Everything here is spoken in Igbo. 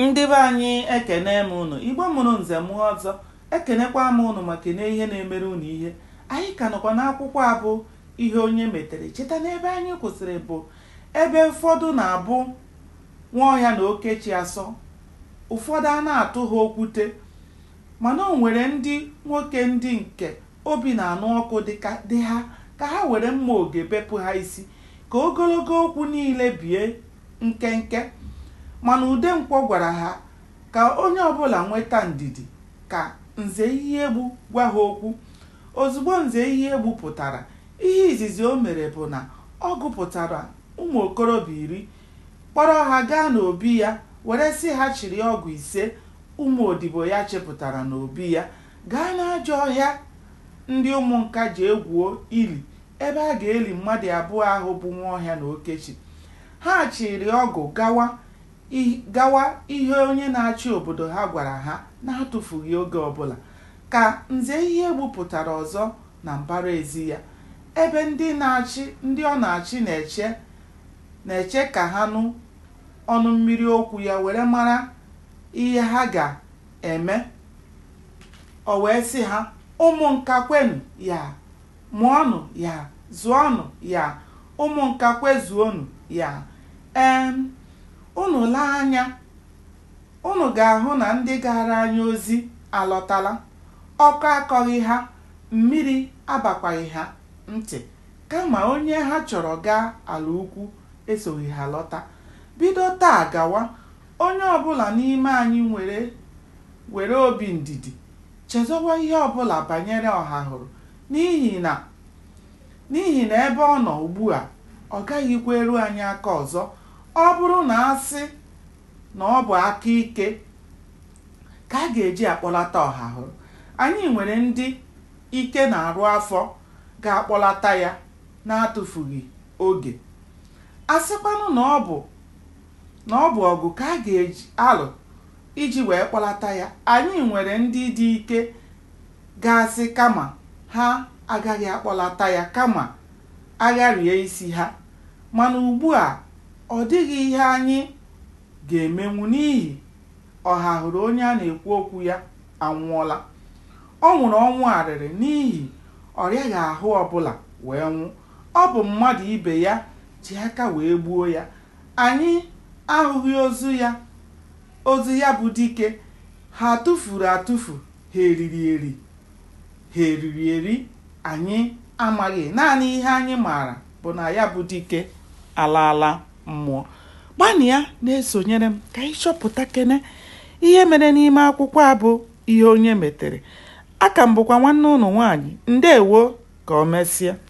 Ndị be anyị ekenee m unu. Igbo mụrụ nze mụọ ọzọ. Ekenekwaa m unu ma kenee ihe na-emere unu ihe. Anyị ka nọkwa n'akwụkwọ a bụ Ihe Onye Metere. Cheta na ebe anyị kwụsịrị bụ ebe ụfọdụ na-abụ Nwaọhịa na Okechi asọ, ụfọdụ a na-atụ ha okwute. Mana o nwere ndị nwoke ndị nke obi na-anụ ọkụ dị ha ka ha were mma oge bepụ ha isi ka ogologo okwu niile bie nkenke, mana Udenkwọ gwara ha ka onye ọbụla nweta ndidi ka Nze Ihiegbu gwa ha okwu. Ozugbo Nze Ihiegbu pụtara, ihe izizi o mere bụ na ọ gụpụtara ụmụ okorobịa iri, kpọrọ ha gaa n'obi ya were sị ha chịrị ọgụ ise ụmụ odibo ya chịpụtara n'obi ya gaa n'ajọ ọhịa ndị Ụmụnka jee gwuo ili ebe a ga-eli mmadụ abụọ ahụ bụ Nwaọhịa na Okechi, ha chịrị ọgụ gawa gawa ihe onye na-achị obodo ha gwara ha n'atụfughị oge ọbụla, ka Nze Ihiegbu pụtara ọzọ na mbara ezi ya, ebe ndị na-achị ndị ọ na-achị na-eche na-eche ka ha nụ ọnụ mmiri okwu ya were mara ihe ha ga-eme. O wee sị ha, Ụmụnka kwenụ ya! Mụọnụ ya, zụọnụ ya, Ụmụnka kwezuonụ ya. Ee, unu lee anya, unu ga-ahụ na ndị gaara anyị ozi alọtala. Ọkọ akọghị ha, mmiri abakwaghị ha ntị. Kama onye ha chọrọ gaa ala ukwu esoghị ha lọta. Bido taa gawa, onye ọ bụla n'ime anyị were were obi ndidi Chezọwa ihe ọ bụla banyere Ọhahụrụ, n'ihi na n'ihi na ebe ọ nọ ugbu a, ọ gaghịkwa eru anyị aka ọzọ. Ọ bụrụ na a sị na ọ bụ aka ike ka a ga-eji akpọlata Ọhahụrụ, anyị nwere ndị ike na-arụ afọ ga-akpọlata ya n'atụfughị oge. A sịkwanụ na ọ bụ na ọ bụ ọgụ ka a ga-eji alụ Iji wee kpọlata ya, anyị nwere ndị dị ike ga-asị kama ha agaghị akpọlata ya kama a gharie isi ha. Mana ugbu a, ọ dịghị ihe anyị ga-emenwu n'ihi Ọhahụrụ onye a na-ekwu okwu ya anwụọla. Ọ nwụrụ ọnwụ arịrị n'ihi ọ rịaghị ahụ ọbụla wee nwụ. Ọ bụ mmadụ ibe ya ji aka wee gbuo ya Anyị ahụghị ozu ya. Ozu ya bụ dike. Ha tụfuru atụfu, ha eriri eri. Ha eriri eri? Anyị amaghị. Naanị ihe anyị maara bụ na ya bụ dike alaala mmụọ. Gbanịa na-esonyere m ka anyị chọpụtakene ihe mere n'ime akwụkwọ a bụ Ihe Onye Metere. Aka m bụkwa nwanne ụnụ nwaanyị. Ndewo ka o mesịa.